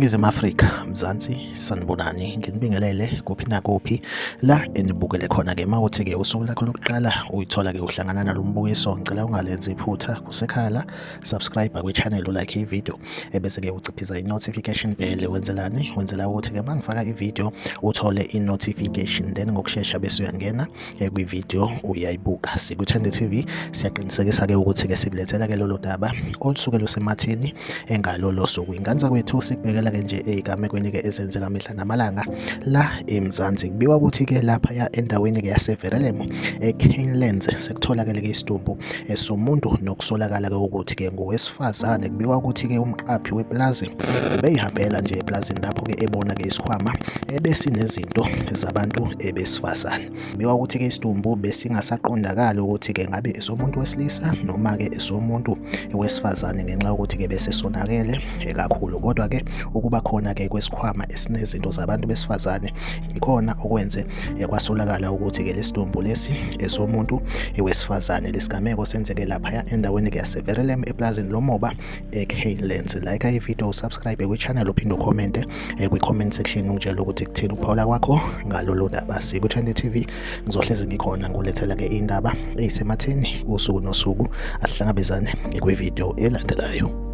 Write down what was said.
iNingizimu Afrika Mzansi sanibonani nginibingelele kuphi nakuphi la enibukele khona ke mawuthi ke usuku lakho lokuqala uyithola ke uhlangana nalombukiso ngicela ungalenzi iphutha kusekhala subscribe kwi channel like i video ebese-ke uciphisa i-notification bell wenzelani wenzela ukuthi-ke uma ngifaka ividiyo uthole i-notification then ngokushesha bese uyangena eh, kwividiyo uyayibuka siku-trend tv siyaqinisekisa-ke ukuthi-ke sikulethela-ke lolo daba olusuke lusematheni engalolo suku ingane zakwethu sikubhekela-ke nje eyigamekweni-ke ezenzeka mihla namalanga la eMzansi kubikwa ukuthi ke lapha ya endaweni ke yaseVerelemo eCanelands sekutholakele ke isidumbu esomuntu eh, nokusolakala ke ukuthi ke ngowesifazane kubikwa ukuthi ke umqaphi weplazi ubeyihambela nje eplazini lapho ke ebona ke isikhwama ebesinezinto zabantu ebesifazane Kubikwa ukuthi-ke isidumbu besingasaqondakali ukuthi-ke ngabe esomuntu wesilisa noma-ke esomuntu wesifazane ngenxa yokuthi-ke bese sonakele eh, kakhulu kodwa-ke ukuba khona-ke kwesikhwama esinezinto zabantu besifazane ikhona okwenze eh, kwasolakala ukuthi-ke lesidumbu lesi esomuntu eh, wesifazane lesigameko senzeke laphaya endaweni-ke yaseverelem eplazini lomoba eKlenze like i video subscribe kwi channel uphinde ucommente eh, kwi comment section ungitshela ukuthi kuthini ukuphawula kwakho ngalolu daba siku Channel TV ngizohlezi ngikhona ngulethela ke indaba eyisematheni usuku nosuku asihlangabezane kwi video elandelayo